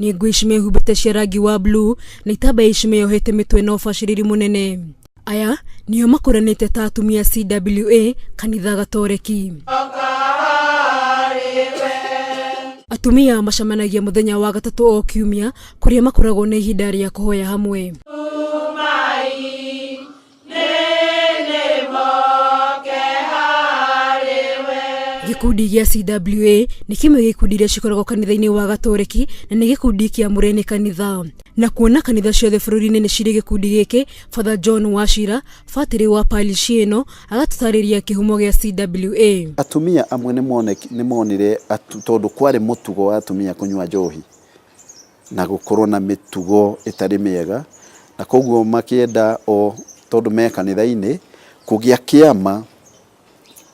nĩ ngũ ici mehumbĩte cia rangi wa bluu na itambaya ici meyohete mĩtwe na ũbacĩrĩri mũnene aya nĩo makũranĩte ta atumia CWA kanitha gatoreki atumia macemanagia mũthenya wa gatatũ o kiumia kũrĩa makoragwo na ihinda rĩa kũhoya hamwe gĩkundi gĩa cwa nĩ kĩmwe gĩa ikundi iria cikoragwo kanitha-inĩ wa gatoreki na nĩ gĩkundi kĩamũre nĩ kanitha na kuona kanitha ciothe bũrũri-inĩ nĩ cirĩ gĩkundi gĩkĩ father john wacira batĩrĩ wa parishi ĩno agatũtarĩria kĩhumo gĩa cwa Atumia amwe nĩ moneki- nĩ monire atu- tondũ kwarĩ mũtugo wa atumia kũnyua njohi, na gũkorwo na mĩtugo ĩtarĩ mĩega, na koguo makĩenda o tondũ me kanitha-inĩ, kũgĩa kĩama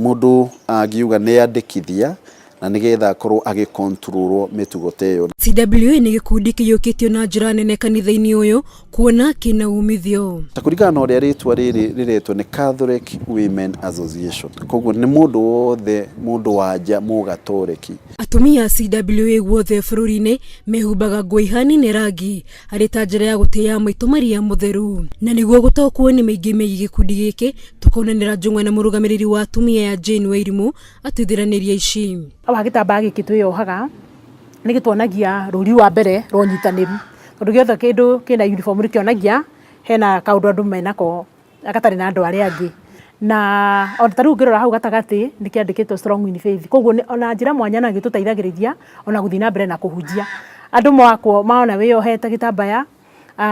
mũndũ angiuga nĩ andĩkithia, na nĩgetha akorwo agĩ control wo mĩtugo ta ĩyo. CWA nĩ gĩkundi kĩiyũkĩtio na njĩra nene kanitha-inĩ ũyũ, kuona kĩna umithio. Ta kũringana na ũrĩa rĩtwa rĩrĩ rĩretwo nĩ Catholic Women Association, koguo nĩ mũndũ wothe mũndũ wa nja mũgatoreki. Atumia CWA guothe bũrũri-inĩ mehumbaga nguo ihanine rangi arĩ ta njĩra ya gũtĩya Maitũ Maria Mũtheru. Na nĩguo gũtaũkwo nĩ maingĩ megiĩ gĩkundi gĩkĩ, tũkonanĩra njũng'wa na mũrũgamĩrĩri wa atumia ya Jane Wairimu atwĩthĩranĩrie ici. Haha gĩtambaya gĩkĩ twĩyohaga nĩ gĩtuonagia rũri rwa mbere rwa ũnyitanĩru. tondũ gĩothe kĩndũ kĩna uniform nĩ kĩonagia hena kaũndũ andũ menako gatarĩ na andũ arĩa angĩ. Na ona ta rĩu ũngĩrora hau gatagatĩ nĩ kĩandĩkĩtwo Strong in Faith. Kwoguo ona njĩra mwanya ona nĩ ĩtũteithagĩrĩria ona gũthiĩ na mbere na kũhunjia. Andũ makwo mona wĩyohete gĩtambaya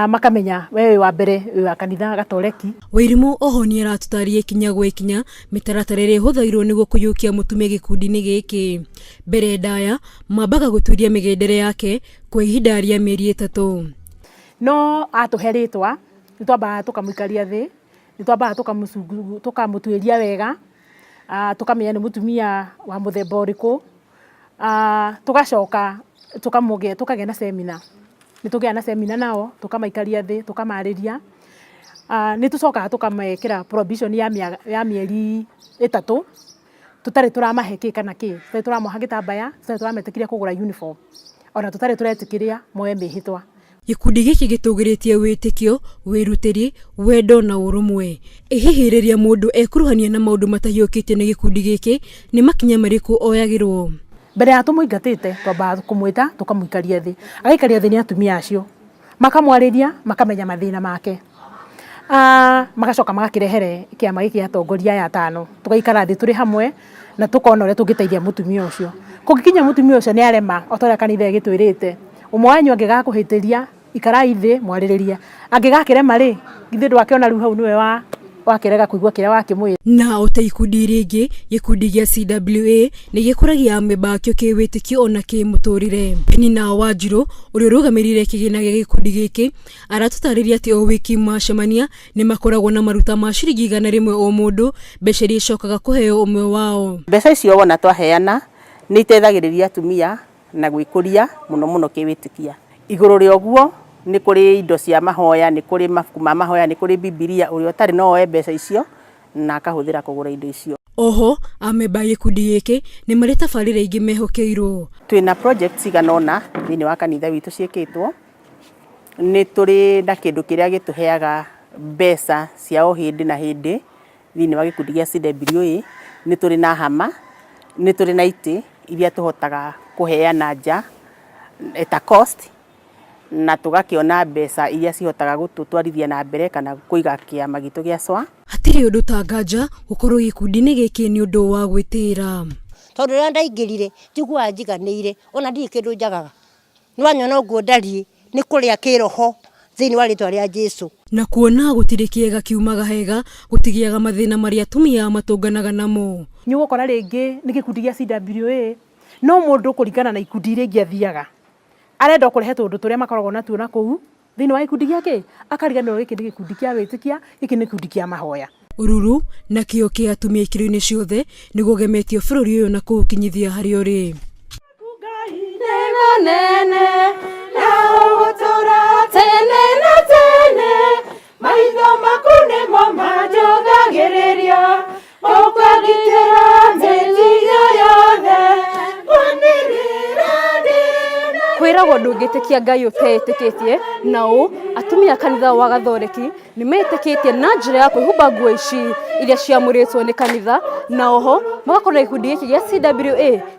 makamenya we wĩ wa mbere wĩ wa kanitha gatoreki. Wairimũ oho nĩ aratũtarĩria ikinya gwa ikinya mĩtaratara ĩrĩa ĩhũthagĩrwo nĩguo kũiyũkia mũtumia gĩkundi-inĩ gĩkĩ. Mbere ndaya mambaga gũtuĩria mĩgendere yake kwa ihinda rĩa mĩeri ĩtatũ. No atũhe rĩtwa, nĩ twambaga tũkamũikaria thĩ, nĩ twambaga tũkamũtuĩria wega, tũkamenya nĩ mũtumia wa mũthemba ũrĩkũ, tũgacoka tũkagĩa na cemina. Nĩ tũgĩaga na cemina nao, tũkamaikaria thĩ, tũkamarĩria. Nĩ tũcokaga tũkamekĩra probation ya mĩeri ĩtatũ. tũtarĩ tũramahe kĩ kana kĩ, tũtarĩ tũramoha gĩtambaya, tũtarĩ tũrametĩkĩria kũgũra uniform, ona tũtarĩ tũretĩkĩria moe mĩĩhĩtwa. Gĩkundi gĩkĩ gĩtũgĩrĩtie wĩtĩkio, wĩrutĩri, wendo na ũrũmwe. Ĩ hihi rĩrĩa mũndũ ekuruhania na maũndũ matahiũkĩtio nĩ gĩkundi gĩkĩ, nĩ makinya marĩkũ oyagĩrũo? Mbere ya tũmũingatĩte, twambaga kũmwĩta tũkamũikaria thĩ. Agaikaria thĩ nĩ atumia acio. makamwarĩria makamenya mathĩna make ah, magacoka magakĩrehere kĩama gĩkĩ atongoria aya atano tũgaikara thĩ tũrĩ hamwe na tũkona ũrĩa tũngĩteithia mũtumia ũcio kũngĩkinya mũtumia ũcio nĩ arema o ta ũrĩa kanitha ĩgĩtwĩrĩte ũmwe wanyu angĩgakũhĩtĩria ikarai thĩ mwarĩrĩrie angĩgakĩrema rĩ githĩ ndwakĩona rĩu hau nĩwe wa Wakerega kũigua kĩrĩa wakĩmwĩra. Na o ta ikundi iria ingĩ, gĩkundi gĩa CWA nĩ gĩkũragia amemba akĩo kĩwĩtĩkio o na kĩmũtũrĩre. Penina Wanjirũ ũrĩa ũrũgamĩrĩire kĩgĩna gĩa gĩkundi gĩkĩ aratũtarĩria atĩ o wiki macemania nĩ makoragwo na maruta ma ciringi igana rĩmwe o mũndũ, mbeca iria icokaga kũheo ũmwe wao. Mbeca icio wona twaheana nĩ iteithagĩrĩria atumia na gwĩkũria mũno mũno kĩwĩtĩkia. Igũrũ rĩa ũguo, nĩ kũrĩ indo cia mahoya, nĩ kũrĩ mabuku ma mahoya, nĩ kũrĩ Bibilia, ũrĩa ũtarĩ no oe mbeca icio na akahũthĩra kũgũra indo icio. O ho, amemba a gĩkundi gĩkĩ nĩ marĩ tabarĩra ingĩ mehokeirũo. Twĩ na projects cigana ũna thĩinĩ wa kanitha witũ ciĩkĩtwo. Nĩ tũrĩ na kĩndũ kĩrĩa gĩtũheaga mbeca cia o hĩndĩ na hĩndĩ. Thĩinĩ wa gĩkundi gĩa CWA nĩ tũrĩ na hama, nĩ tũrĩ na itĩ iria tũhotaga kũheana nja at a cost na tũgakĩona mbeca iria cihotaga gũtũtwarithia na mbere kana kũiga kĩama gitũ gĩa SWA. Hatirĩ ũndũ ta nganja gũkorwo gĩkundi-inĩ gĩkĩ nĩ ũndũ wa gwĩtĩĩra. Tondũ rĩrĩa ndaingĩrire njiguaga njiganĩire, ona ndirĩ kĩndũ njagaga. Nĩwanyona ũguo ndariĩ, nĩ kũrĩa kĩĩroho thĩinĩ wa rĩĩtwa rĩa Jesũ. Na kuona gũtirĩ kĩega kiumaga hega, gũtigĩaga mathĩna marĩa atumia matũnganaga namo. Nĩũgũkora rĩngĩ nĩ gĩkundi gĩa CWA, no mũndũ kũringana na ikundi iria ingĩ athiaga, arenda o kũrehe tũũndũ tũrĩa makoragwo natuo nakũu. Thĩinĩ wa gĩkundi gĩa kĩĩ? Akariganĩrwo gĩkĩ nĩ gĩkundi kĩa wĩtĩkia, gĩkĩ nĩ gĩkundi kĩa mahoya. Ũruru na kĩyo kĩa atumia ikĩro-inĩ ciothe nĩ gũgemetio bũrũri ũyũ na kũũkinyithia harĩa ũrĩ. Waku Ngai nĩ mũnene na ũgũtũra tene na tene, maitho maku nĩmo manjũgagĩrĩria. ũkagitĩra mĩthiyo yothe manĩrĩra ndĩna kwĩragwo ndũngĩtĩkia ngai ũteĩtĩkĩtie na ũ atumia a kanitha wa gathoreki nĩ metĩkĩtie na njĩra ya kwĩhumba nguo ici iria ciamũrĩtwo nĩ kanitha na oho magakorwo na gĩkundi gĩkĩ gĩa cwa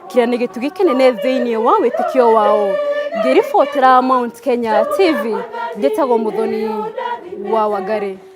kĩrĩa nĩ gĩtugĩ kĩnene thĩinĩ wa wĩtĩkio wao ngĩribotera mount kenya tv njĩtagwo mũthoni wa wangarĩ